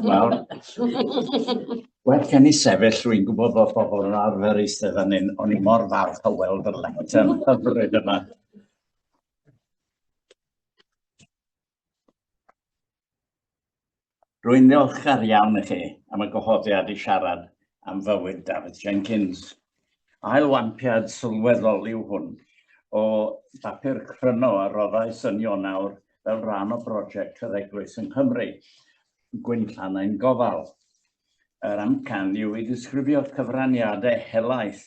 Wel, well gen i sefyll, rwy'n gwybod bod pobl yn arfer eistedd fan hyn, o'n i mor falch o weld yr lectern hyfryd yma. Rwy'n ddiolchgar iawn i chi am y gwahoddiad i siarad am fywyd Dafydd Jenkins. Ailwampiad sylweddol yw hwn o bapur cryno a roddai synion awr fel rhan o brosiect yr Eglwys yng Nghymru, Gwynllan ein Gofal. Yr amcan yw i ddisgrifio cyfraniadau helaeth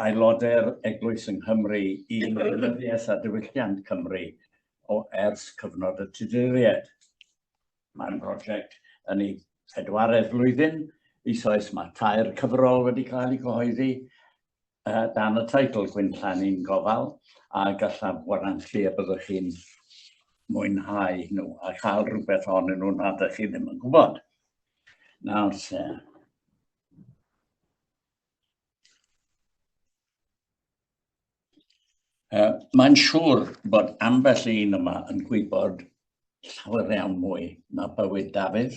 aelodau'r Eglwys yng Nghymru i wleidyddiaeth a diwylliant Cymru o ers cyfnod y Tuduriaid. Mae'r prosiect yn ei phedwaredd flwyddyn, eisoes mae tair cyfrol wedi cael eu cyhoeddi uh, dan y teitl Gwynplanu'n Gofal a gallaf warantu y byddwch chi'n mwynhau nhw a chael rhywbeth ohonyn nhw nad ydych chi ddim yn gwybod. Nawr se. Uh, Mae'n siŵr bod ambell un yma yn gwybod llawer iawn mwy na bywyd Dafydd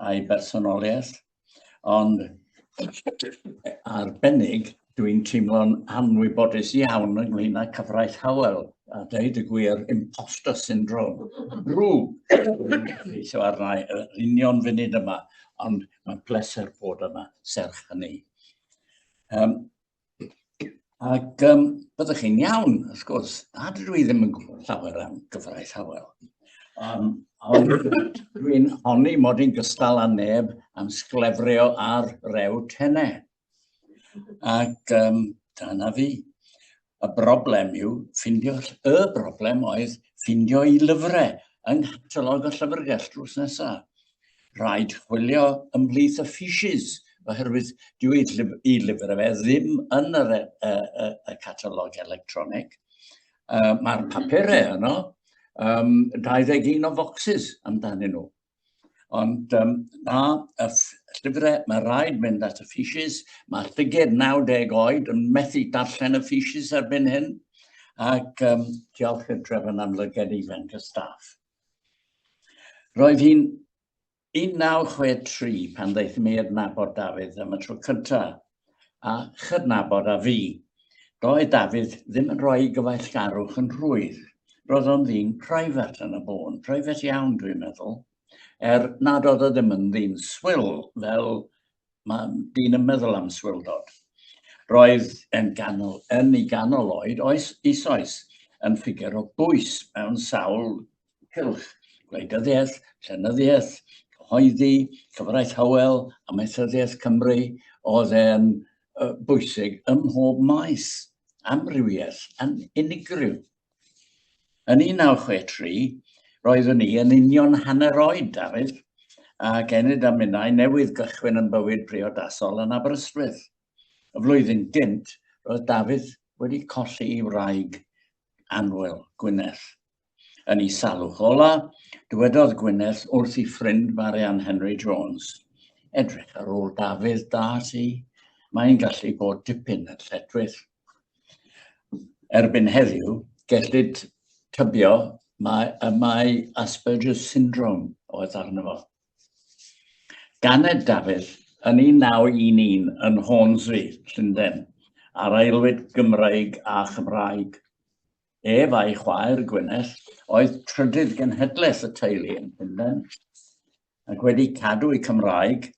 a'i bersonoliaeth, ond arbennig dwi'n teimlo'n anwybodus iawn ynglyn â cyfraith Howell, a dweud y gwir, imposter syndrome. Rw, so arna i, yr union funud yma, ond mae'n bleser bod yma, serch hynny. Um, ac um, byddwch chi'n iawn, wrth gwrs, a dydw i ddim yn gwybod llawer am gyfraith Howell. Um, ond dwi'n honni mod i'n gystal â neb am sglefrio ar rew tenau. Ac um, dyna fi. y broblem yw ffindio, y broblem oedd ffindio i lyfrau yng nghatalog y llyfrgell drws nesaf. Rhaid chwilio ymhlith y fishes, oherwydd dwi i lyfr fe ddim yn yr, y, e, y, y catalog electronig. Uh, Mae'r papurau yno, um, 21 o focsys amdanyn nhw. Ond um, na, y llyfrau, mae rhaid mynd at y ffisius. Mae llyged 90 oed yn methu darllen y ffisius erbyn hyn. Ac um, diolch i'r drefn am lyged ifanc y staff. Roedd hi'n 1963 pan ddeithum i adnabod Dafydd am y tro cyntaf. a chydnabod a fu. Doedd Dafydd ddim yn rhoi gyfeillgarwch yn rhwydd. Roedd o'n ddyn private yn y bôn, private iawn dwi'n meddwl, er nad oedd o ddim yn ddyn swil fel mae dyn yn meddwl am swildod. Roedd yn, ganol, yn ei ganol oed oes eisoes yn ffigur o bwys mewn sawl cylch, gwleidyddiaeth, llenyddiaeth, cyhoeddi, cyfraith hywel, amaethyddiaeth Cymru, oedd e'n bwysig ym mhob maes, amrywiaeth yn unigryw. Yn 1963, roeddwn ni yn union hanner oed, Dafydd, a genyd a minnau newydd gychwyn yn bywyd priodasol yn Aberystwyth. Y flwyddyn gynt, roedd Dafydd wedi colli ei wraig anwyl, Gwyneth. Yn ei salwch ola, dywedodd Gwyneth wrth ei ffrind Marianne Henry Jones, Edrych ar ôl Dafydd da ti, mae'n gallu bod dipyn yn lletwyll. Erbyn heddiw, gellid tybio mae, y mae Asperger's syndrome oedd arno fo. Ganed Dafydd yn 1911 yn Hornsey, Llundain, ar aelwyd Gymraeg a Chymraeg. Ef a'i chwaer, Gwyneth, oedd trydydd genhedlaeth y teulu yn Llundain, ac wedi cadw ei Cymraeg,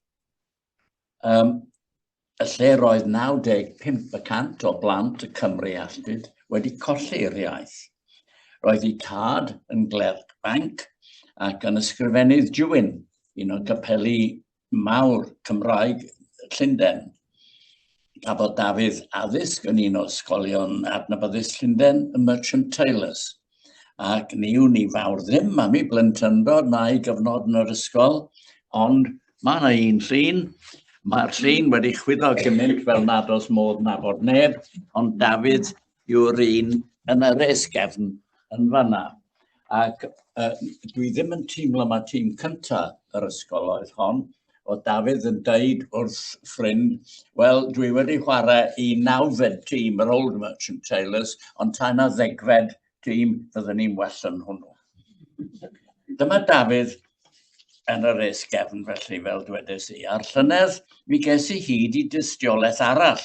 um, y lle roedd 95 y cant o blant y Cymru alltud wedi colli'r iaith. Roedd ei tad yn glerc banc ac yn ysgrifennydd Jewin, un o gapeli mawr Cymraeg Llundain. Cafodd Dafydd addysg yn un o ysgolion adnabyddus Llundain, y Merchant Taylors. Ac ni yw ni fawr ddim am ei blentyndod na'i gyfnod yn yr ysgol, ond mae yna un llun Mae'r llun wedi chwyddo gymaint fel nad oes modd nabod neb, ond Dafydd yw'r un yn yr esgefn yn fanna. Ac uh, dwi ddim yn teimlo mae tîm cynta yr ysgol oedd hon, o Dafydd yn deud wrth ffrind, wel, dwi wedi chwarae i nawfed tîm yr Old Merchant Taylors, ond ta na ddegfed tîm fydden ni'n well yn hwnnw. Dyma Dafydd yn yr esgefn felly, fel dwedais i, a'r llynedd mi ges i hyd i dystiolaeth arall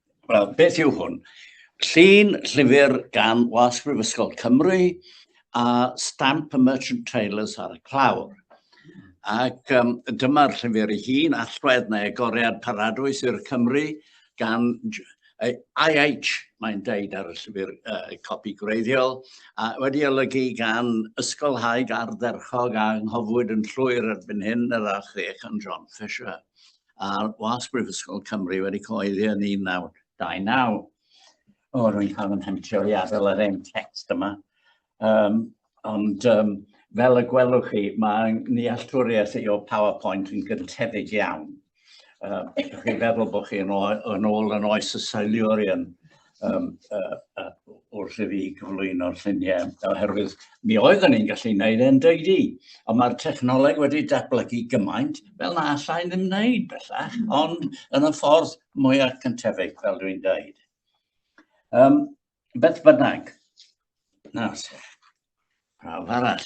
Wel, beth yw hwn? Llun llyfr gan Wasg Brifysgol Cymru a stamp y Merchant Tailors ar y clawr. Ac um, dyma'r llyfr ei hun, allwedd neu agoriad paradwys i'r Cymru gan IH, mae'n deud ar y llyfr uh, copi gwreiddiol, a wedi olygu gan ysgolhaig ardderchog a nghofwyd yn llwyr erbyn hyn yr archddech yn John Fisher. a was Brifysgol Cymru wedi coeddi yn 1929. O, rwy'n cael yn hentio i adael yr ein text yma. Um, ond um, fel y gwelwch chi, mae nealltwriaeth i o PowerPoint yn gyntefig iawn. Uh, chi feddwl bod chi yn, yn ôl yn oes y Silurian, um, uh, uh, wrth i fi gyflwyno'r lluniau, oherwydd mi oeddwn ni'n gallu gwneud e'n deudi. Ond mae'r technoleg wedi datblygu gymaint, fel na allai ddim wneud bellach, ond yn y ffordd mwyaf cyntefig, fel dwi'n dweud. Um, beth bynnag, nas, prawf arall.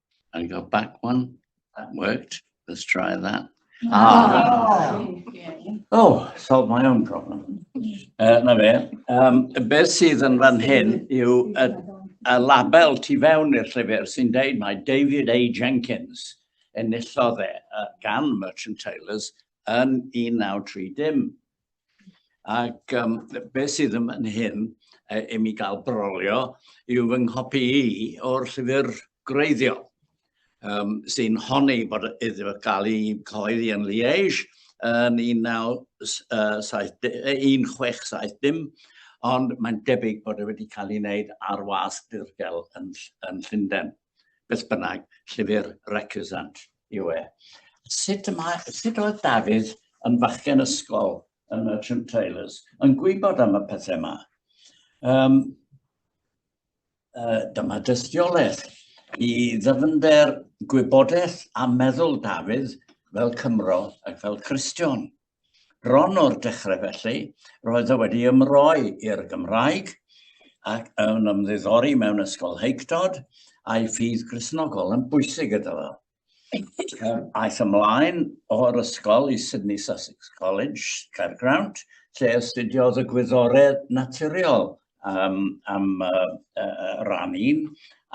I go back one. That worked. Let's try that. Ah. Oh, solve my own problem. Uh, na fe, um, beth sydd yn fan hyn yw y, y label tu fewn i'r llyfr sy'n deud mae David A. Jenkins yn enillodd e gan Merchant Taylors yn 1930. Ac um, be sydd yn fan hyn, e, i mi gael brolio, yw fy nghopi i o'r llyfr greiddio, um, sy'n honni bod iddo gael ei coeddi yn Liege yn 1670, ond mae'n debyg bod e wedi cael ei wneud ar wasg dirgel yn, yn Llundain. Beth bynnag, llyfr recusant. yw e. Sut, mae, sut oedd Dafydd yn fachgen ysgol yn y Trim Trailers yn gwybod am y pethau yma? Um, uh, dyma dystiolaeth i ddyfnder gwybodaeth a meddwl Dafydd fel Cymro ac fel Cristion. Bron o'r dechrau felly, roedd o wedi ymroi i'r Gymraeg ac yn ymddiddori mewn ysgol heictod a'i ffydd grisnogol yn bwysig gyda fo. Aeth ymlaen o'r ysgol i Sydney Sussex College, Caergrawnt, lle astudiodd y gwyddoredd naturiol um, am uh, uh, ran un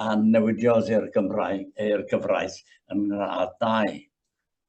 a newidiodd i'r Gymraeg, i'r gyfraith yn ngradd dau.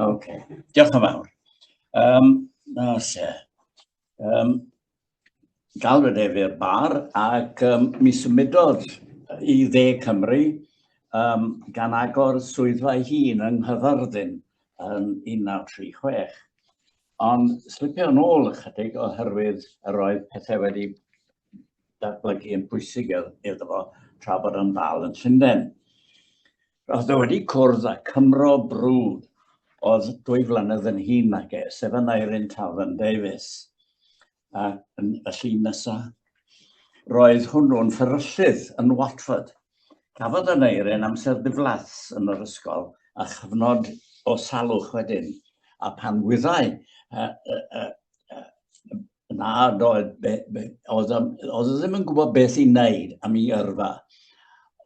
OK, diolch yn fawr. Um, na se. Um, galwyd ef i'r bar ac um, mi symudodd i dde Cymru um, gan agor swyddfa ei hun yng Nghyfyrddin yn 1936. Ond slipio yn ôl ychydig oherwydd yr oedd pethau wedi datblygu yn bwysig iddo fo tra bod yn ddal yn Llundain. Roedd o wedi cwrdd â Cymro brwd oedd dwy flynedd yn hun nag e, sef Aneurin Tafern Davies. A yn y llun nesaf, roedd hwnnw'n fferyllydd yn Watford. Cafodd Aneurin amser diflas yn yr ysgol a chyfnod o salwch wedyn, a pan wyddai Na, doedd, be, be, oedd, oedd ddim yn gwybod beth i wneud am ei yrfa.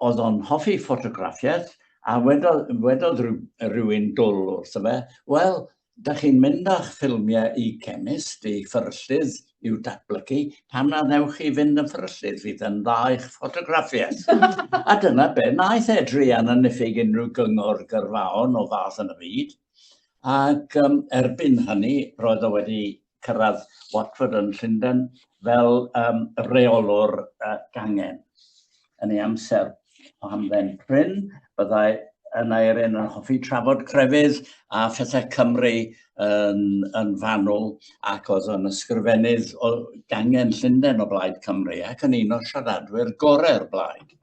Oedd o'n hoffi ffotograffiaeth, a wedodd, wedodd rhywun dwl wrtho fe, wel, da chi'n mynd â'ch ffilmiau i chemist, i fferyllydd i'w datblygu, pam na ddewch chi fynd yn fferyllydd, fydd yn dda i'ch ffotograffiaeth. a dyna be, naeth e druan yn niffig unrhyw gyngor gyrfaon o fath yn y byd, ac um, erbyn hynny roedd o wedi cyrraedd Watford yn Llundain fel um, reolwr uh, gangen. Yn ei amser o hamdden prin, byddai yn Eirin yn hoffi trafod crefydd a phethau Cymru yn, yn fanwl ac oedd yn ysgrifennydd o gangen Llundain o blaid Cymru ac yn un o siaradwyr gorau'r blaid.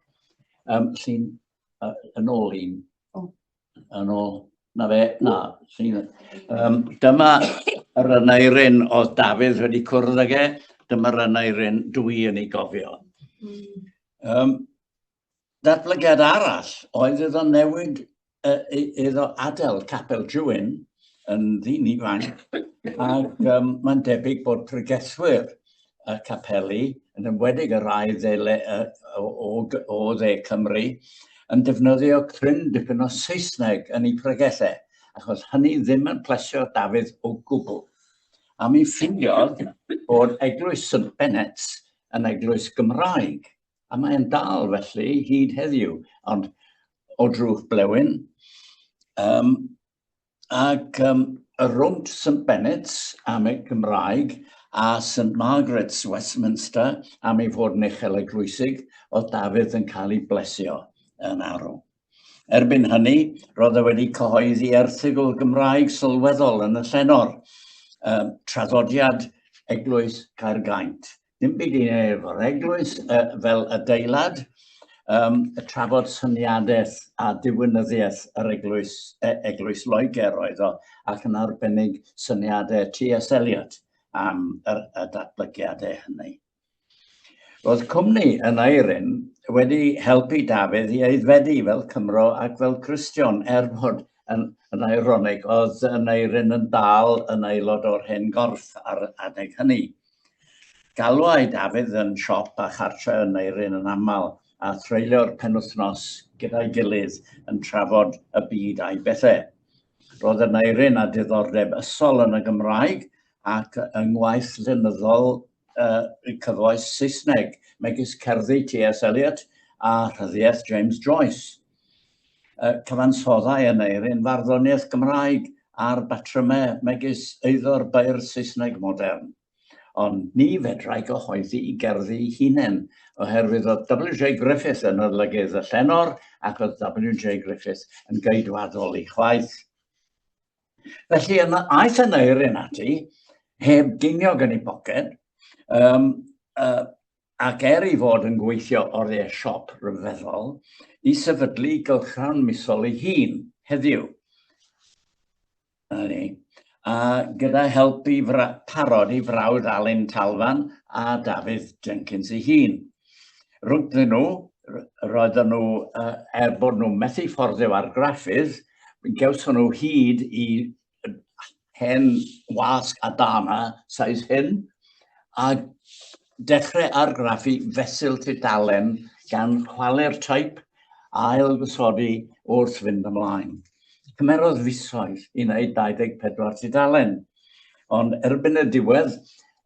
Um, llun uh, yn ôl i'n Yn ôl. Na fe, na. Um, dyma yr ynairin oedd Dafydd wedi cwrdd ag e, dyma'r ynairin dwi yn ei gofio. Um, datblygiad arall oedd iddo newid uh, iddo adael Capel Jwyn yn ddyn ifanc ac um, mae'n debyg bod pregethwyr y capeli, yn ymwedig y rhai dde, le, o, o, o dde Cymru, yn defnyddio cryn dipyn o Saesneg yn ei pregellau, achos hynny ddim yn plesio Dafydd o gwbl. A mi ffindiodd bod Eglwys St Bennet yn eglwys Gymraeg, a mae'n dal felly hyd heddiw, ond o drwch blewyn, um, ac um, rownd St Bennett's am y Gymraeg a St Margaret's Westminster am ei fod yn uchel eglwysig o Dafydd yn cael ei blesio yn arw. Erbyn hynny, roedd e wedi cyhoeddi erthygl Gymraeg sylweddol yn y llenor, um, traddodiad Eglwys Caergaint, Dim byd i wneud efo'r eglwys uh, fel adeilad, um, trafod syniadaeth a diwynyddiaeth yr eglwys, e, eglwys Loegr oedd o, ac yn arbennig syniadau T.S. Eliot am yr, y datblygiadau hynny. Roedd cwmni yn Eirin wedi helpu Dafydd i aeddfedu fel Cymro ac fel Cristion, er bod yn, yn eironig, oedd yn Eirin yn dal yn aelod o'r hen gorff ar adeg hynny. Galwai Dafydd yn siop a chartre yn Neirin yn aml, a threulio'r penwythnos gyda'i gilydd yn trafod y byd a'i bethe. Roedd y Neirin a diddordeb ysol yn y Gymraeg ac yng ngwaith llenyddol y cyfoes Saesneg, megis cerddi T.S. Eliot a rhyddiaith James Joyce. uh, cyfansoddau yn eirin farddoniaeth Gymraeg a'r batrymau megis eiddo'r beirdd Saesneg modern. Ond ni fedrai gyhoeddi i gerddi hunain, oherwydd oedd W.J. Griffith yn olygydd y llenor ac oedd W.J. Griffith yn geidwadol ei chwaith. Felly yna aeth yn eirin ati, heb geiniog yn ei boced, um, uh, ac er ei fod yn gweithio oriau siop ryfeddol, i sefydlu gylchgrawn misol ei hun heddiw. Ni. A gyda help i parod ei frawd Alun Talfan a Dafydd Jenkins ei hun. Rwyddyn nhw, roedden nhw, er bod nhw methu fforddio argraffydd, gawson nhw hyd i hen wasg a dana size hyn, a dechrau argraffu fesul tudalen gan chwalu'r teip a ailgysodi wrth fynd ymlaen. Cymerodd fisoedd i wneud 24 tudalen, ond erbyn y diwedd,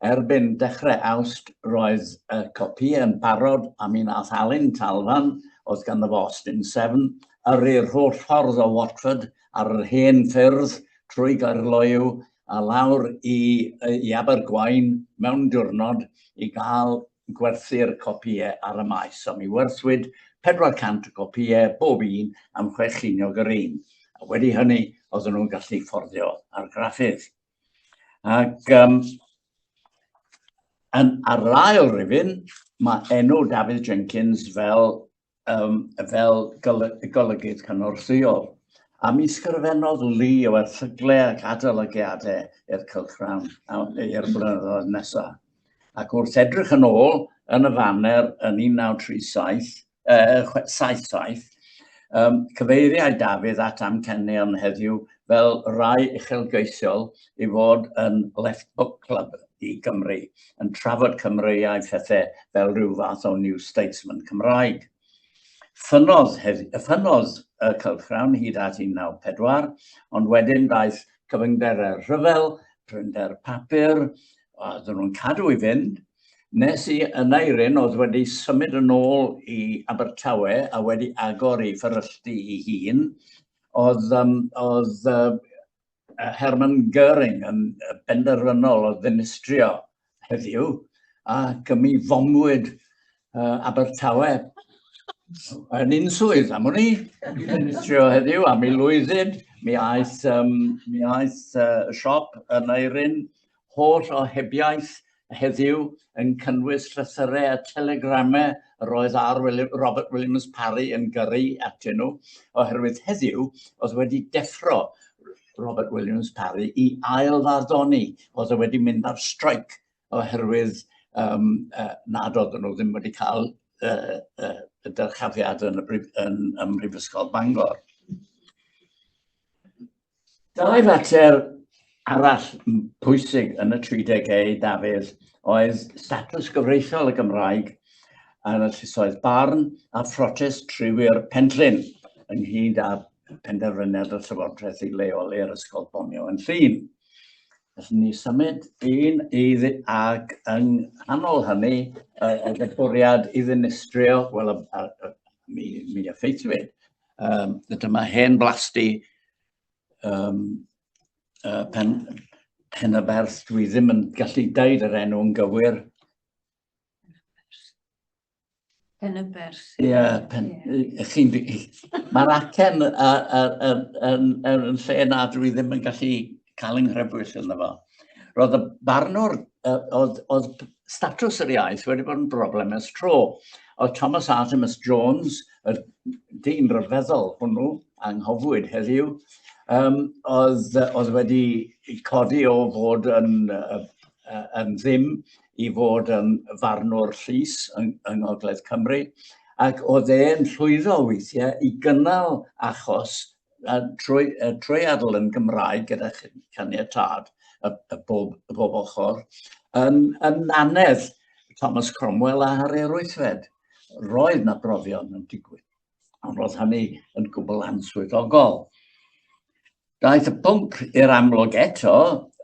erbyn dechrau awst, roedd y copi yn barod a mi nath Alun Talfan, oedd ganddo fo Austin 7, yrru'r holl ffordd o Watford ar yr hen ffyrdd trwy Gaerloyw a lawr i, i Abergwaun mewn diwrnod i gael gwerthu'r copïau ar y maes, a mi werthwyd 400 o gopïau bob un am chwe chiniog yr un, a wedi hynny oedden nhw'n gallu fforddio argraffydd. Ac um, yn, ar yr ail rifyn, mae enw Dafydd Jenkins fel um, fel golygydd cynorthwyol. A mi sgrifennodd Li o erthyglau ac adolygiadau i'r cylchgrawn i'r blynyddoedd nesaf. Ac wrth edrych yn ôl yn y faner yn 1937, uh, 77, um, cyfeiriau Dafydd at amcenion heddiw fel rai uchelgeisiol i fod yn Left Book Club i Gymru. yn trafod Cymreiaid phethe fel rhyw fath o New Statesman Cymraeg. Ffynnodd, ffynnodd y cylchgrawn hyd at 1904, ond wedyn daeth cyfyngderau rhyfel, prinder papur, a dyn nhw'n cadw i fynd, nes i yn Eirin oedd wedi symud yn ôl i Abertawe a wedi agor i fferylltu i hun, oedd, um, oedd uh, Hermann Göring yn benderfynol o ddinistrio heddiw, ac mi fomwyd uh, Abertawe yn un swydd am hwnni, i ddinistrio heddiw, a mi lwyddid, mi aeth, um, mi aeth uh, siop yn eirin Holl ohebiaeth heddiw yn cynnwys llythyrau a telegramau yr oedd R. William, Robert Williams Parry yn gyrru atyn nhw, oherwydd heddiw oedd wedi deffro Robert Williams Parry i ail farddoni, oedd e wedi mynd ar streic oherwydd um, uh, nad oedden nhw ddim wedi cael uh, uh, y dyrchafiad yn, y brif, yn, yn Mhrifysgol Bangor. Dau fater arall pwysig yn y 30au, Dafydd, oedd statws gyfreithiol y Gymraeg yn y llysoedd barn a phrotest triwyr Penllyn ynghyd â penderfyniad y Llywodraeth i leoli'r Ysgol Bonio yn Llun. Felly ni symud un idd ac yng nghanol hynny y, y bwriad i ddinistrio, wel, mi, mi effeithiwyd Um, dyma hen blasti um, uh, pen, pen y berth. Dwi ddim yn gallu deud yr enw yn gywir. Pen y berth. Ie, yeah, pen... Yeah. Mae'r acen yn lle na dwi ddim yn gallu cael yng Nghrebwyll ynddo fo. Roedd y barnwr, oedd, oedd statws yr iaith wedi bod yn broblem ers tro. Oedd Thomas Artemus Jones, y dyn rhyfeddol hwnnw, anghofwyd heddiw, um, oedd, oedd wedi codi o fod yn, yn ddim i fod yn farnwr llys yng, yng Ngogledd Cymru, ac oedd e'n llwyddo weithiau i gynnal achos a trwy, a trwy adl yn Gymraeg gyda caniatad y, y, bob, y bob ochr, yn, yn anedd Thomas Cromwell a Harri'r Wythfed. Roedd na brofion yn digwydd, ond roedd hynny yn gwbl answyddogol. Daeth y pwnc i'r amlwg eto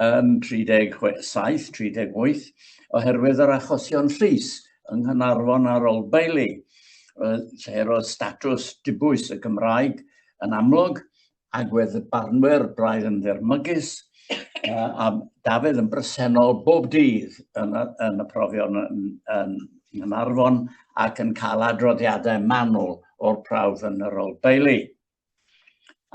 yn 37-38 oherwydd yr achosion llys yng Nghanarfon a'r Old Bailey, lle roedd statws dibwys y Gymraeg yn amlwg, agwedd y barnwyr braidd yn ddirmygus, a Dafydd yn bresennol bob dydd yn y, yn y profion yn, yn Nghanarfon ac yn cael adroddiadau manwl o'r prawf yn yr Old Bailey.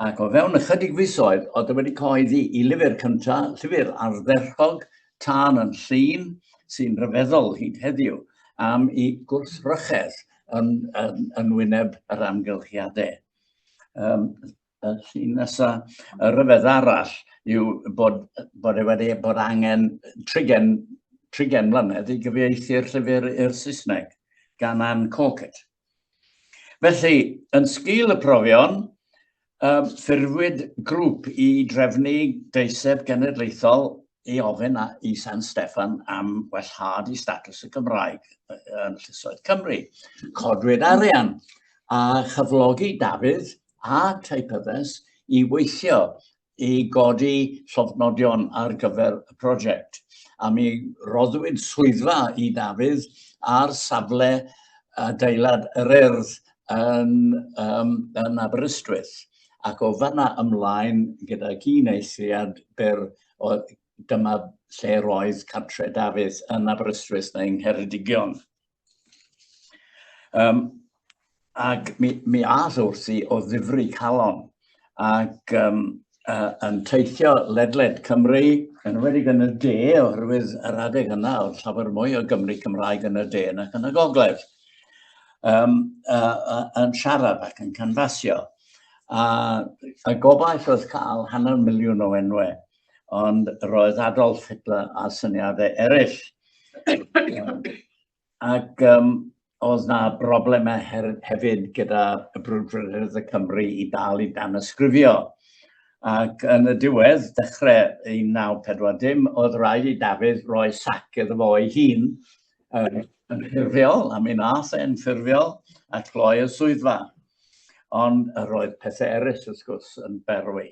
Ac o fewn ychydig fisoedd, oedd wedi coeddi i lyfr cynta, llyfr ardderchog, tân yn llun, sy'n rhyfeddol hyd heddiw, am i gwrthrychedd yn, yn, yn wyneb yr amgylchiadau. Um, y llun nesaf, y rhyfedd arall yw bod, bod e wedi bod angen trigen, trigen mlynedd i gyfieithu'r llyfr i'r Saesneg gan Anne Corkett. Felly, yn sgil y profion, um, ffurfwyd grŵp i drefnu deiseb genedlaethol i ofyn a, i San Steffan am wellhad i statws y Gymraeg yn Llysoedd Cymru. Codwyd arian a chyflogi Dafydd a Teipyddes i weithio i godi llofnodion ar gyfer y prosiect. A mi roddwyd swyddfa i Dafydd ar safle adeilad yr urdd yn, um, yn Aberystwyth. Ac o fanna ymlaen gyda un eithriad byr o dyma lle roedd cartre Dafydd yn Aberystwyth neu yng Ngheredigion. Um, ac mi, mi ath wrthi o ddifri calon ac um, uh, yn teithio ledled Cymru, yn wedi yn y de, oherwydd yr adeg yna oedd llawer mwy o Gymru Cymraeg yn y de nac yn y gogledd, um, uh, uh, yn siarad ac yn canfasio. A, a gobaith oedd cael hanner miliwn o enwau ond roedd Adolf Hitler a syniadau eraill. Ac um, oedd na broblemau hefyd gyda y brwdfrydedd y Cymru i dal i dan ysgrifio. Ac yn y diwedd, dechrau 1940, oedd rhaid i Dafydd roi sac iddo fo ei hun yn, yn ffurfiol, a mi nath e'n ffurfiol, a gloi y swyddfa. Ond yr oedd pethau eraill, wrth gwrs, yn berwi.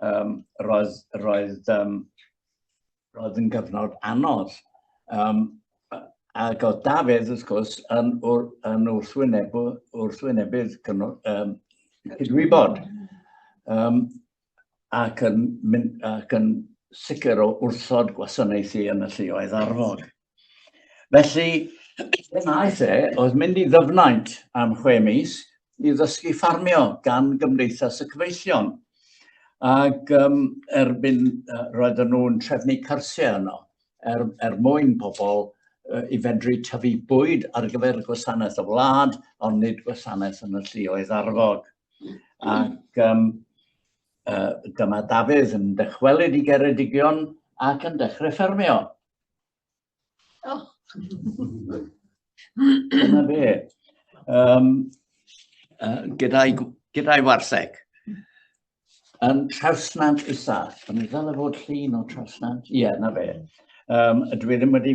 Um, roedd, roedd, um, roedd yn gyfnod anodd. Um, ac oedd Dafydd, wrth gwrs, yn, yn wrthwynebu, wrthwynebydd um, cydwybod. Um, ac yn, mynd, ac yn sicr o wrthod gwasanaethu yn y lleoedd arfog. Felly, fe wnaeth e, oedd mynd i ddyfnaint am chwe mis i ddysgu ffarmio gan Gymdeithas y Cyfeillion. Ac um, erbyn uh, roedden nhw'n trefnu cyrsiau yno er, er mwyn pobl uh, i fedru tyfu bwyd ar gyfer gwasanaeth y wlad, ond nid gwasanaeth yn y llioedd arfog. Ac um, uh, dyma Dafydd yn dychwelyd i Geredigion ac yn dechrau ffermio. Oh. Dyna fe. Um, uh, gyda'i gyda warseg. Um, trawsnant isa. O'n i ddal fod llun o trawsnant? Ie, yeah, na fe. Um, ydw i ddim wedi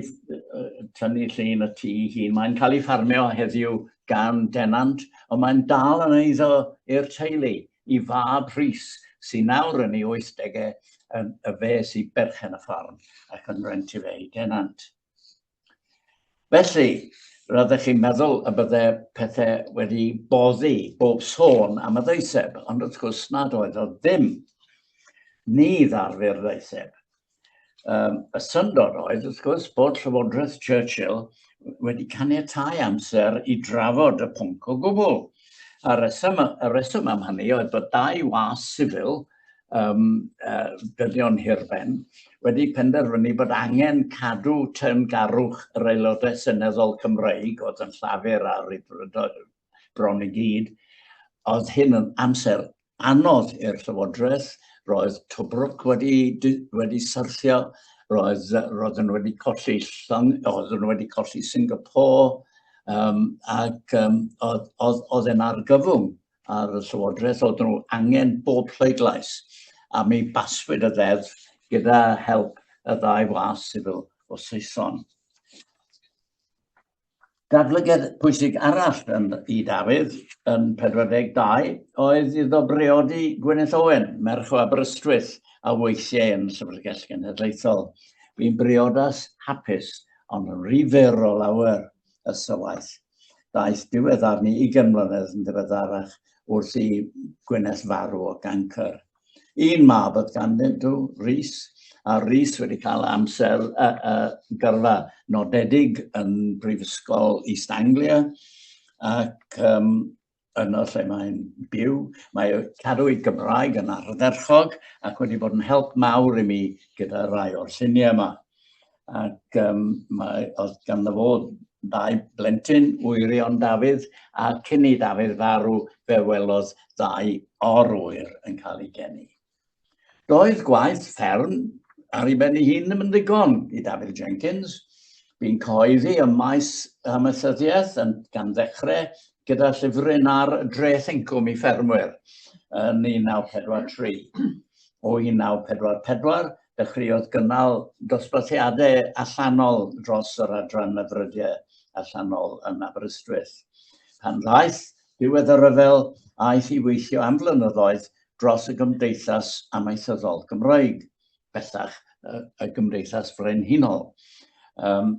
tynnu llun y tŷ hun. Mae'n cael ei ffarmio heddiw gan denant, ond mae'n dal yn eiddo i'r teulu, i fab Rhys, sy'n nawr yn ei 80au, y fe sy'n berchen y ffarm ac yn rent i fe i denant. Felly, roeddech chi'n meddwl y bydde pethau wedi boddi bob sôn am y ddeiseb, ond wrth gwrs nad oedd o ddim. Ni ddarfu'r ddeiseb. Um, y syndod oedd, wrth gwrs, bod Llywodraeth Churchill wedi caniatau amser i drafod y pwnc o gwbl. A reswm, y reswm am hynny oedd bod dau was sifil um, uh, dynion hirben wedi penderfynu bod angen cadw teyrngarwch yr aelodau seneddol Cymreig oedd yn llafur a rydfrydol bron i gyd. Oedd hyn yn amser anodd i'r llywodraeth, roedd Tobruk wedi, wedi syrthio, roedd, roedd yn wedi colli llong, oedd yn wedi colli Singapore, um, ac um, oedd, oedd, oedd yn argyfwng ar y Llywodraeth, oedd nhw angen bob pleidlais, a mi baswyd y ddeddf gyda help y ddau was sifil o Saeson. Datblygiad pwysig arall yn i Dafydd yn 42 oedd iddo breodi Gwyneth Owen, merch o Aberystwyth, a weithiau yn Llyfrgell Genedlaethol. Bu'n briodas hapus, ond yn rhy fer o lawer y sywaeth daeth diweddar ni i gymlynedd yn ddiweddarach wrth i Gwyneth farw o gancr. Un mab oedd ganddyn nhw, Rhys, a Rhys wedi cael amser a, a gyrfa nodedig yn Brifysgol East Anglia ac um, yno lle mae'n byw. Mae cadw'i Gymraeg yn ardderchog ac wedi bod yn help mawr i mi gyda rai o'r lluniau yma. Ac um, mae, oedd gan fo ddau blentyn, wyrion Dafydd, a cyn i Dafydd farw fe welodd ddau orwyr yn cael ei geni. Doedd gwaith fferm ar ei ben ei hun ddim yn ddigon i Dafydd Jenkins. Bu'n coeddi ym maes amaethyddiaeth yn gan ddechrau gyda llyfryn ar dreth incwm i ffermwyr yn 1943. O 1944, dechreuodd gynnal dosbarthiadau allanol dros yr adran y frydiau allanol yn Aberystwyth. Pan ddaeth diwedd y rhyfel, aeth i weithio am flynyddoedd dros y Gymdeithas Amaethyddol Gymraeg, bellach y Gymdeithas Frenhinol, um,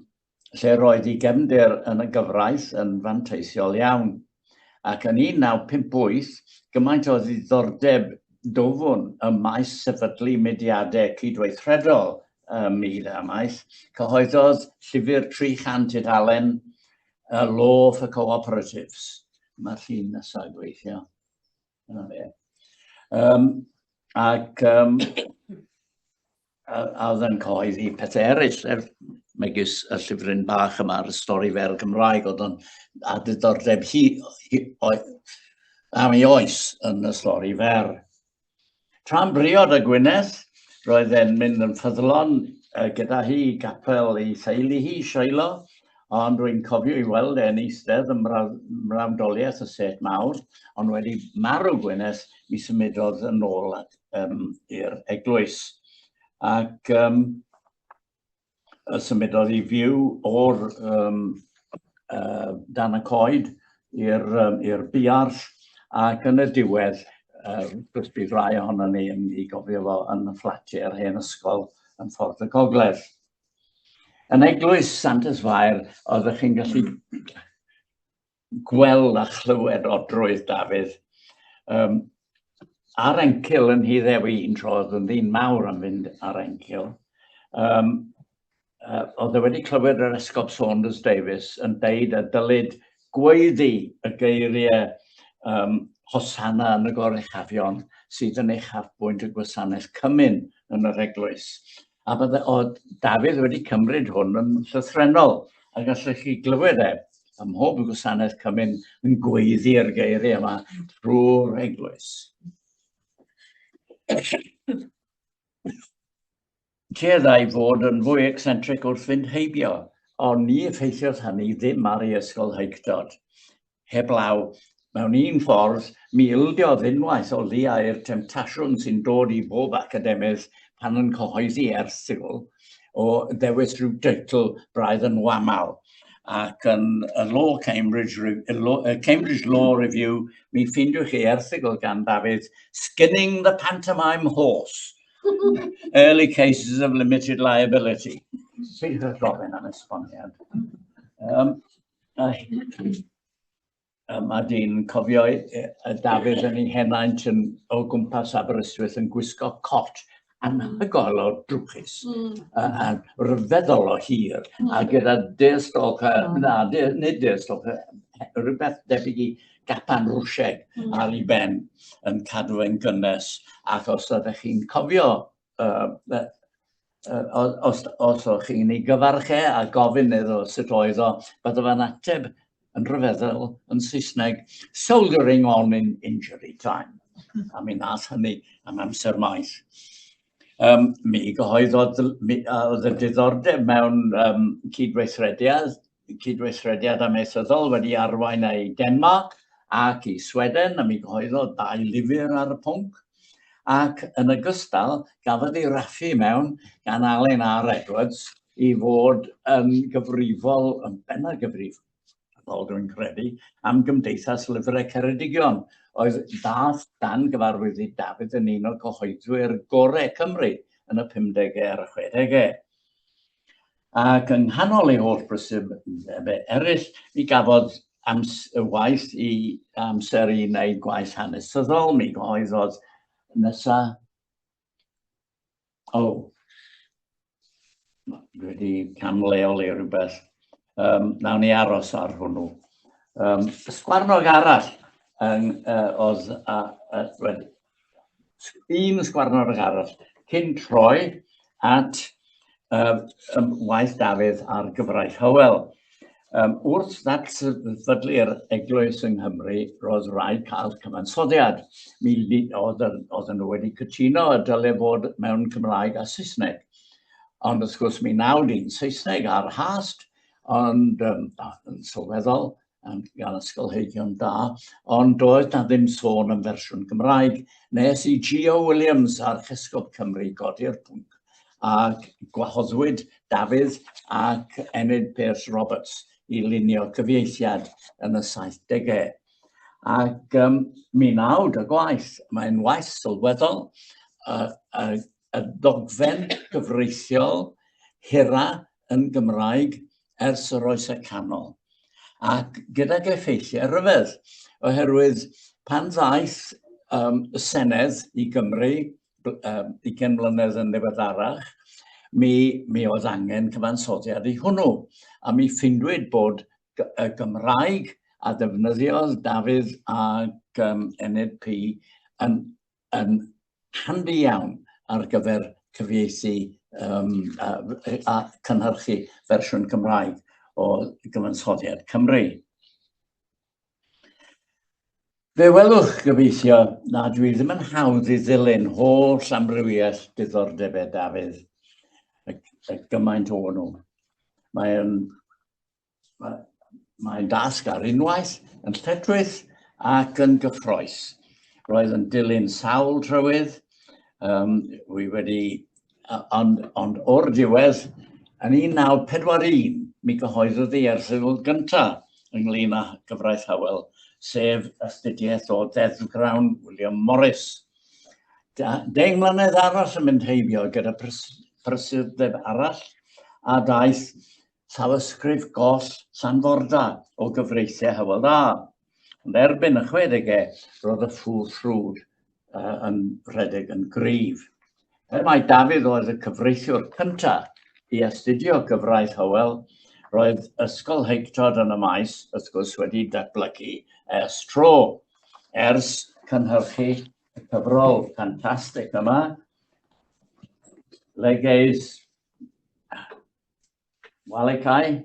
lle roedd ei gefnder yn y gyfraith yn fanteisiol iawn. Ac yn 1958, gymaint o ddiddordeb dofwn y maes sefydlu mediadau cydweithredol ym myd amaeth, cyhoeddodd llyfr 300 tudalen uh, Law for Cooperatives. Mae'r llun nesaf gweithio. Dyna fe. Um, ac um, a, a oedd yn cyhoeddi pethau eraill, er, megis y llyfryn bach yma ar y stori fer y Gymraeg, oedd o'n a diddordeb hi, hi oed, am ei oes yn y stori fer. Tra'n briod a Gwyneth, roedd e'n mynd yn ffyddlon uh, gyda hi i gapel ei theulu hi, Shiloh, ond rwy'n cofio i weld e'n eistedd yn mrawdoliaeth y set mawr, ond wedi marw Gwyneth, mi symudodd yn ôl um, i'r eglwys. Ac um, y symudodd i fyw o'r um, uh, dan y coed i'r um, biarll ac yn y diwedd uh, bydd rai ohono ni yn ei gofio fo yn y fflatiau yr hen ysgol yn ffordd y gogledd. Yn eglwys Santes Fair, oeddech chi'n gallu gweld a chlywed o drwydd Dafydd. Um, ar encil yn hi ddewi un tro, oedd yn ddyn mawr am fynd ar encil. Um, uh, oedd e wedi clywed yr Esgob Saunders Davis yn deud a dylid gweiddi y geiriau um, hosanna yn y gorechafion sydd yn eich hafbwynt y gwasanaeth cymyn yn yr eglwys. A bydde o Dafydd wedi cymryd hwn yn llythrennol, a gallech chi glywed e ym mhob gwasanaeth cymun yn gweiddi'r geiriau yma trwy'r eglwys. Tueddai fod yn fwy eccentric wrth fynd heibio, ond ni effeithiodd hynny ddim ar ei ysgol Higdod. heblaw. Mewn un ffordd, mi ildiodd unwaith o liau'r temtasiwn sy'n dod i bob academydd pan yn cyhoeddi erthygl o ddewis rhyw deitl braidd yn wamal. Ac yn y Law Cambridge, Cambridge Law Review, mi ffeindiwch chi erthygl gan Dafydd, Skinning the Pantomime Horse, Early Cases of Limited Liability. Sydd yn gofyn am esboniad. Um, Yma dyn cofio y Dafydd yn ei henaint yn, o gwmpas Aberystwyth yn gwisgo cot anhygoel o drwchus mm. a, a rhyfeddol o hir mm. a gyda deirstolch, mm. na, de, nid deirstolch, rhywbeth debyg i gapan rwsieg mm. ar ei ben yn cadw yn gynnes ac os ydych chi'n cofio uh, uh, os, os o'ch chi'n ei gyfarch e a gofyn iddo sut oedd o, bydde fe'n ateb yn rhyfeddol yn Saesneg, soldering on in injury time. A mi nath hynny am amser maith. Um, mi gyhoeddodd oedd y diddordeb mewn um, cydweithrediad cydweithrediad amaethyddol wedi arwain â i Denmarc ac i Sweden, a mi gyhoeddodd dau lyfr ar y pwnc, ac yn ogystal gafodd ei raffu mewn gan Alun R Edwards i fod yn gyfrifol, yn benna gyfrif, fel dwi'n credu, am Gymdeithas Lyfrau Ceredigion, oedd dath dan gyfarwydd i Dafydd yn un o gyhoeddwyr gorau Cymru yn y 50au ar y 60au. Ac yng nghanol ei holl brysur fe eraill, mi gafodd ams y waith i amser i wneud gwaith hanesyddol, mi gyhoeddodd nesa... O, oh. dwi wedi camleoli rhywbeth. Um, nawn ni aros ar hwnnw. Um, sgwarnog arall yn, uh, oedd, uh, uh, un sgwarnog arall cyn troi at um, um, waith Dafydd ar gyfraith Hywel. Um, wrth ddatfydlu'r eglwys yng Nghymru, roedd rhaid cael cyfansoddiad. Mi oedd, oedd nhw wedi cytuno y dylai fod mewn Cymraeg a Saesneg. Ond wrth gwrs mi nawd i'n Saesneg a'r hast, ond um, yn sylweddol, gan ysgolheigion da, ond doedd na ddim sôn yn fersiwn Gymraeg, nes i Gio Williams, Archesgob Cymru, godi'r pwnc, ac gwahoddwyd Dafydd ac Enid Pearce Roberts i lunio cyfieithiad yn y 70au. Ac um, mi nawd y gwaith, mae'n waith sylweddol, y, y y ddogfen gyfreithiol hira yn Gymraeg ers yr Oesau Canol, ac gydag effeithiau rhyfedd, oherwydd pan ddaeth um, y Senedd i Gymru um, i gen mlynedd yn ddiweddarach, mi, mi oedd angen cyfansoddiad i hwnnw, a mi ffindwyd bod y Gymraeg a ddefnyddiodd Dafydd ac um, Enid P yn yn handi iawn ar gyfer cyfieithu um, a, a cynhyrchu fersiwn Cymraeg o gyfansoddiad Cymru. Fe welwch gyfeithio na dwi ddim yn hawdd i ddilyn holl amrywiaeth diddordebau Dafydd, y, y gymaint o nhw. Mae'n Mae'n dasg ar unwaith, yn lledrwyth ac yn gyffroes. Roedd yn dilyn sawl trywydd, um, wy wedi, ond, ond o'r diwedd, yn 1941, mi gyhoeddodd ei erthygl gyntaf ynglyn â gyfraith Howell, sef astudiaeth o ddeddfgrawn William Morris. Deng mlynedd arall yn mynd heibio gyda prysurdeb arall, a daeth Llawysgrif goll Llanforda o gyfreithiau Hywel Dda. Ond erbyn y chwedegau, roedd y ffŵr ffrwd uh, yn rhedeg yn gryf. Er mai Dafydd oedd y cyfreithiwr cyntaf i astudio gyfraith Hywel, roedd Ysgol Heictod yn y maes, wrth gwrs, wedi datblygu ers tro, ers cynhyrchu y cyfrol ffantastig yma, Legeis Wale Cai,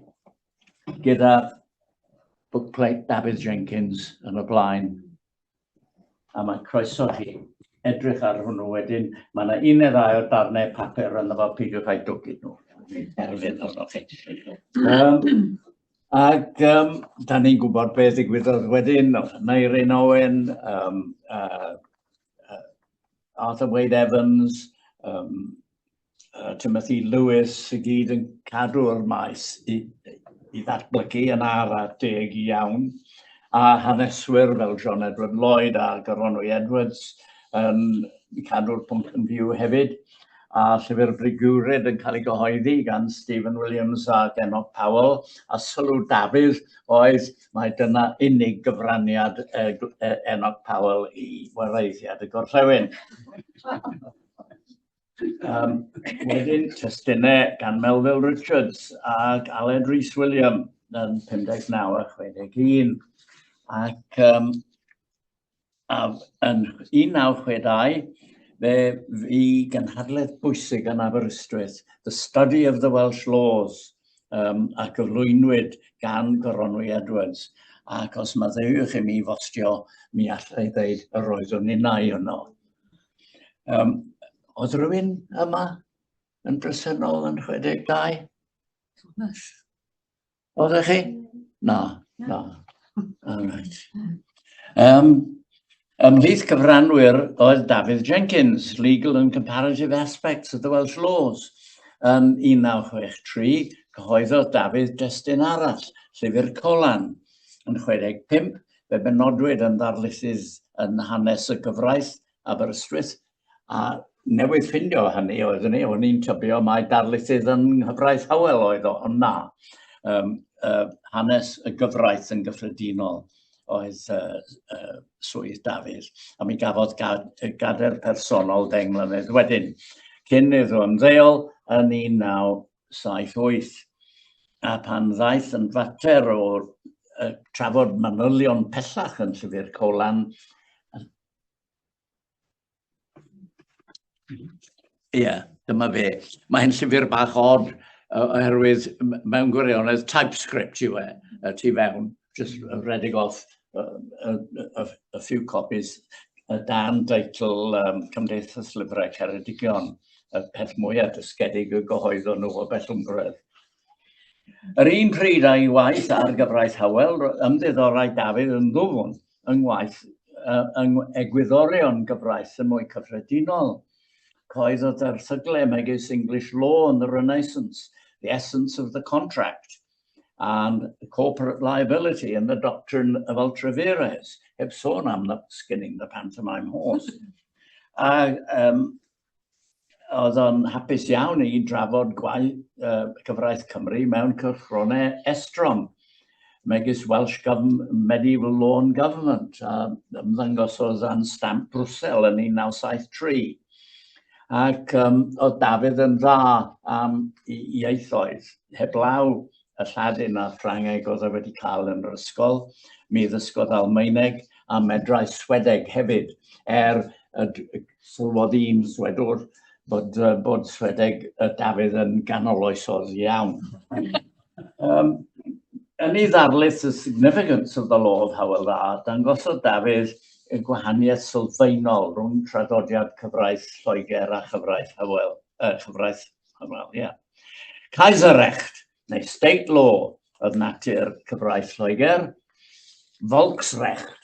gyda bookplate Dafydd Jenkins yn y blaen. A mae croeso chi edrych ar hwnnw wedyn. Mae yna un neu ddau o darnau papur yn efo peidiwch â'i dwgyd nhw. Erfyn arnoch chi. Um, ac um, da ni'n gwybod beth ddigwyddodd wedyn, Neirin Owen, um, uh, uh, Arthur Wade Evans, um, uh, Timothy Lewis i gyd yn cadw'r maes i, i ddatblygu yn ara deg iawn, a haneswyr fel John Edward Lloyd a Goronwy Edwards yn cadw'r pwnc yn fyw hefyd, a llyfr Brigwrid yn cael ei gyhoeddi gan Stephen Williams a Genoc Powell, a sylw Dafydd oedd mae dyna unig gyfraniad e, e, Enoch Powell i wareiddiad y gorllewin. Um, wedyn, testunau gan Melville Richards ac Aled Rhys William yn 59 a 61. Ac um, a, yn 1962, fe fi gynhadledd bwysig yn Aberystwyth, The Study of the Welsh Laws, um, a gyflwynwyd gan Goronwy Edwards. Ac os maddeuwch i mi fostio, mi allai ddeud yr oeddwn innau yno. Um, oedd rhywun yma yn bresennol yn 62? Thomas. Oedd chi? Na, na. All right. Um, ymhlith cyfranwyr oedd David Jenkins, Legal and Comparative Aspects of the Welsh Laws, yn 1963, cyhoeddodd Dafydd destun arall, Llyfr Colan, yn 65, Fe benodwyd yn ddarlithydd yn hanes y gyfraith Aberystwyth, a newydd ffindio hynny oeddwn i, o'n i'n tybio mai darlithydd yn nghyfraith Howell oedd o, ond na. Um, uh, hanes y gyfraith yn gyffredinol oedd uh, uh, swydd Dafydd, a mi gafodd gad, gader personol ddeng mlynedd wedyn. Cyn iddo ymddeol yn 19 1978, a phan ddaeth yn fater o uh, trafod manylion pellach yn Llyfr Colan, Ie, yeah, dyma fe. Mae hyn llyfr bach od, oherwydd mewn gwirionedd TypeScript yw e, y tu fewn, just redeg off a few copies y dan deitl um, Cymdeithas Lyfrau Ceredigion, y peth mwyaf dysgedig y gyhoeddon nhw o Bellwmbredd. Yr un pryd a'i waith ar gyfraith Howell, ymddiddorai Dafydd yn ddwfn yng ngwaith uh, yng egwyddorion gyfraith yn mwy cyffredinol. Coeddodd erthyglau megis English Law and the Renaissance, The Essence of the Contract, and corporate liability and the doctrine of ultra vires, heb sôn am the skinning the pantomime horse. a um, oedd o'n hapus iawn i drafod gwaith uh, cyfraith Cymru mewn cyrchronau estron, megis Welsh Government, Medieval Law and Government, a ymddangosodd yn stamp Brussel yn 1973. Ac um, oedd Dafydd yn dda am ieithoedd, heblaw y Lladin a'r Ffrangeg oedd e wedi cael yn yr ysgol. Mi ddysgodd Almaeneg a medrau Swedeg hefyd, er y sylwodd un Swedwr bod, uh, bod Swedeg y Dafydd yn ganol oesodd iawn. um, yn ei ddarlith y significance of the law of Howell Dda, dangosodd Dafydd y gwahaniaeth sylfaenol rhwng traddodiad cyfraith Lloegr a chyfraith Howell, uh, cyfraith Wel, ie. Kaiserrecht, neu state law, oedd natur cyfraith Lloegr. Volksrecht,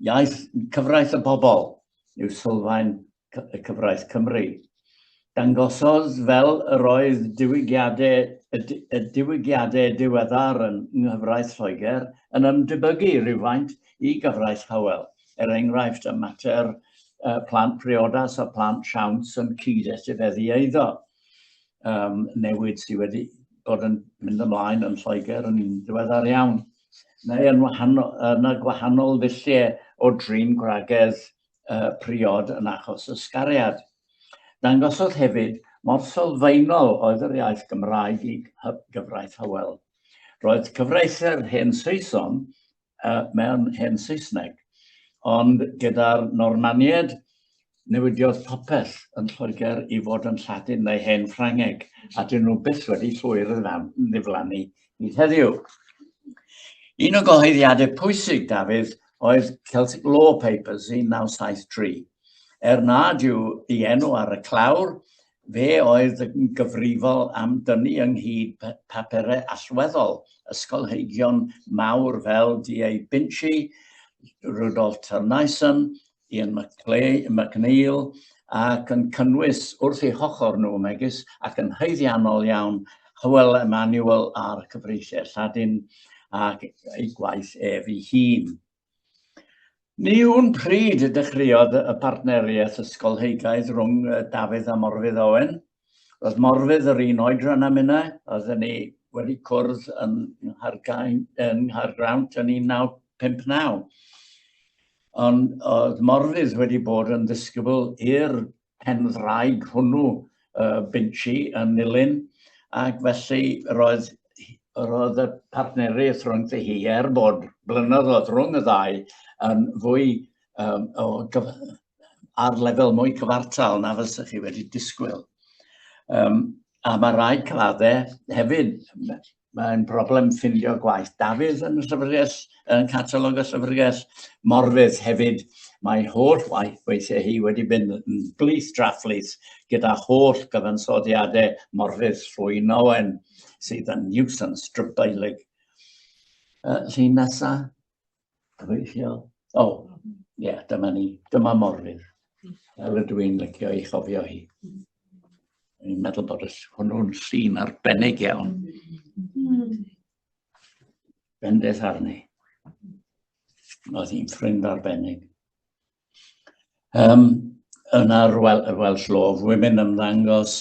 iaith cyfraith y bobl, yw sylfaen y cyfraith Cymru. Dangosodd fel yr oedd diwygiadau, y, y diwygiadau diweddar yn nghyfraith Lloegr yn ymdebygu rhywfaint i gyfraith Howell, er enghraifft, y mater uh, plant priodas a plant siawns yn cyd-etifeddu eiddo. Um, newid sydd wedi bod yn mynd ymlaen yn Lloegr yn ddiweddar iawn. Neu yn, wahanol, yn y gwahanol ddulliau o drin gwragedd uh, priod yn achos ysgariad. Dangosodd hefyd mor sylfaenol oedd yr iaith Gymraeg i gyfraith Hywel. Roedd cyfraithau'r hen Saeson uh, mewn hen Saesneg. Ond gyda'r Normaniaid, newidiodd popeth yn Lloegr i fod yn Lladin neu hen Ffrangeg, a dyn nhw byth wedi llwyr yn ddiflannu i heddiw. Un o gyhoeddiadau pwysig Dafydd oedd Celtic Law Papers 1973. Er nad yw i enw ar y clawr, Fe oedd yn gyfrifol am dynnu ynghyd papurau allweddol ysgolheigion mawr fel D. A. Binchy, Rudolf Thurneysen, Ian McNeill, ac yn cynnwys wrth ei hochr nhw megis ac yn haeddiannol iawn Hywel Emmanuel a'r cyfreithiau Lladin ac ei gwaith ef ei hun. Ni wn pryd y dechreuodd y partneriaeth ysgolheigaidd rhwng Dafydd a Morfudd Owen. Roedd Morfudd yr un oedran â minnau, oedden ni wedi cwrdd yn Nghaergrawnt yn 1959. Ond oedd Morfudd wedi bod yn ddisgybl i'r pen ddraig hwnnw uh, Binchi yn Nilyn, ac felly roedd, roedd y partneriaeth rhwng hi er bod blynyddoedd rhwng y ddau yn fwy um, o gyf ar lefel mwy cyfartal na fysa chi wedi disgwyl. Um, a mae rhai claddau hefyd mae'n broblem ffindio gwaith. Dafydd yn y llyfrgell, yn catalog y llyfrgell, Morfydd hefyd, mae holl waith weithiau hi wedi mynd yn blith draflith gyda holl gyfansoddiadau Morfydd Llwyn Owen sydd yn nuisance drybeilig. Uh, llun nesaf. Cyfeilliol. O, oh, ie, yeah, dyma ni. Dyma morfydd. Fel ydw i'n licio ei chofio hi. I'n meddwl bod hwnnw'n llun arbennig iawn. Bendith arni. Oedd hi'n ffrind arbennig. Um, yna'r wel, Welsh Law of Women ymddangos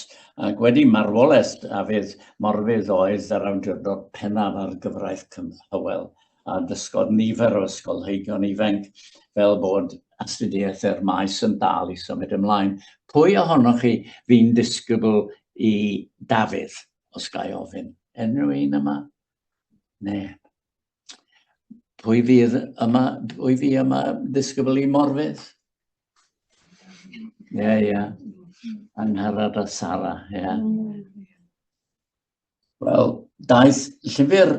ac wedi marwolaeth Dafydd Morfydd oedd yr awdurdod pennaf ar gyfraith Cymhywel a dysgodd nifer o ysgolheigion ifanc fel bod astudiaeth yr maes yn dal i symud ymlaen. Pwy ohonoch chi fi'n disgybl i Dafydd, os ga i ofyn? Unrhyw un yma? Ne. Pwy fydd yma, pwy fi yma ddisgybl i Morfydd? Ie, yeah, ie. Yeah. Angharad a Sara, ie. Yeah. Wel, daeth llyfr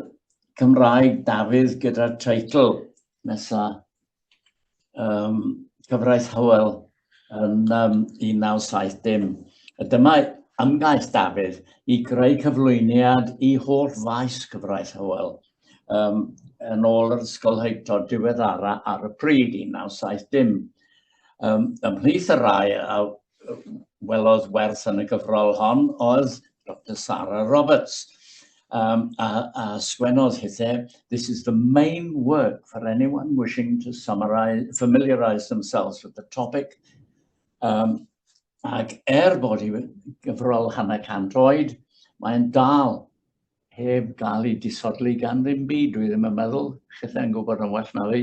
Cymraeg Dafydd gyda'r teitl nesa um, cyfraith Hywel yn um, 1970. A dyma ymgais Dafydd i greu cyflwyniad i holl faes cyfraith Hywel um, yn ôl yr ysgol heicto diweddara ar y pryd 1970. Um, ymhlith y rai a welodd werth yn y gyfrol hon oedd Dr Sara Roberts. Um, a, a sgwennodd hithe, this is the main work for anyone wishing to summarize, familiarise themselves with the topic. Um, ac er bod hi gyfrol hanner cant oed, mae'n dal heb gael ei disodli gan ddim byd. Dwi ddim yn meddwl, chitha'n gwybod yn well na fi.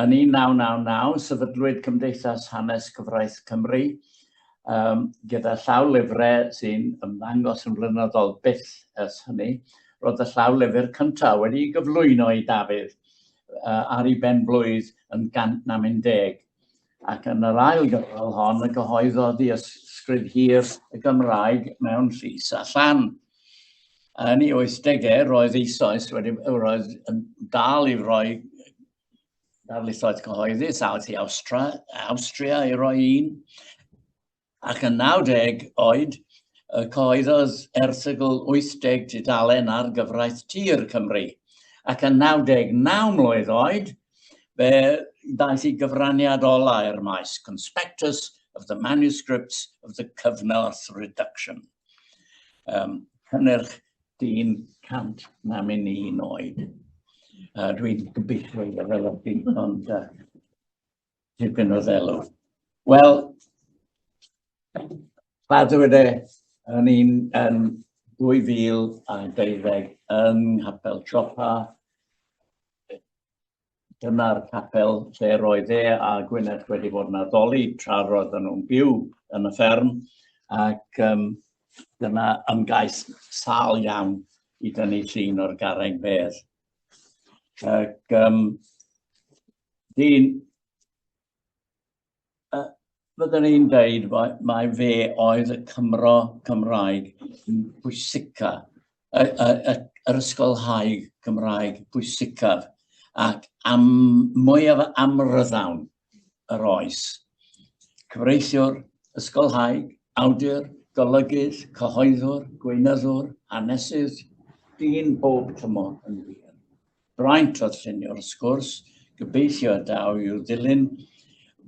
Yn 1999, sefydlwyd Cymdeithas Hanes Cyfraith Cymru, um, gyda llaw lyfrau sy'n ymddangos yn flynyddol byth ers hynny. Roedd y llaw lyfr cyntaf wedi gyflwyno i Dafydd uh, ar ei benblwydd yn gant na mynd deg. Ac yn yr ail gyfrol hon, y gyhoeddodd i ysgrif hir y Gymraeg mewn llys a llan. Yn ei 80au, roedd eisoes wedi roedd yn dal i roi darlithoedd cyhoeddus out i Awstra, Awstria i roi un, ac yn 90 oed, y cyhoeddodd erthygl 80 tudalen ar gyfraith tir Cymru. Ac yn 99 mlwydd oed, fe ddaeth i gyfraniad ola i'r maes, Conspectus of the Manuscripts of the Cyfnorth Reduction. Um, cynnyrch dyn cant na mynd i un oed. Uh, Dwi'n gobeithio i fel o dim ond uh, tipyn o ddelw. Wel, ddweud e yn un yn 2012 yn Hapel Chopa, dyna'r capel lle roedd e a Gwyneth wedi bod yn addoli tra roedd nhw'n byw yn y fferm ac um, dyna ymgais sal iawn i dynnu llun o'r garreg fedd. Ac um, dyn Uh, Byddwn i'n dweud mae, mae fe oedd y Cymro Cymraeg bwysica, y, y, y, yr ysgolhaig Cymraeg bwysicaf, ac am mwyaf amryddawn yr oes. Cyfreithiwr, ysgolhaig, awdur, golygydd, cyhoeddwr, gweinyddwr, hanesydd, dyn bob tymor yn wir. Braint oedd llunio'r wrth gwrs, gobeithio y daw i'w ddilyn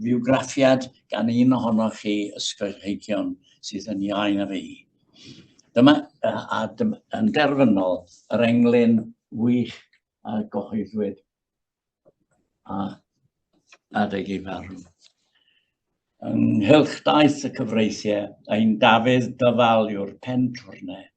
fiwgraffiad gan un ohonoch chi ysgolheigion sydd yn iau na fi. Dyma, a dyma, yn derfynol, yr englyn wych a gyhoeddwyd a adeg ei farw. Ynghylch daith y cyfreithiau, ein Dafydd Dyfal yw'r pen twrnau.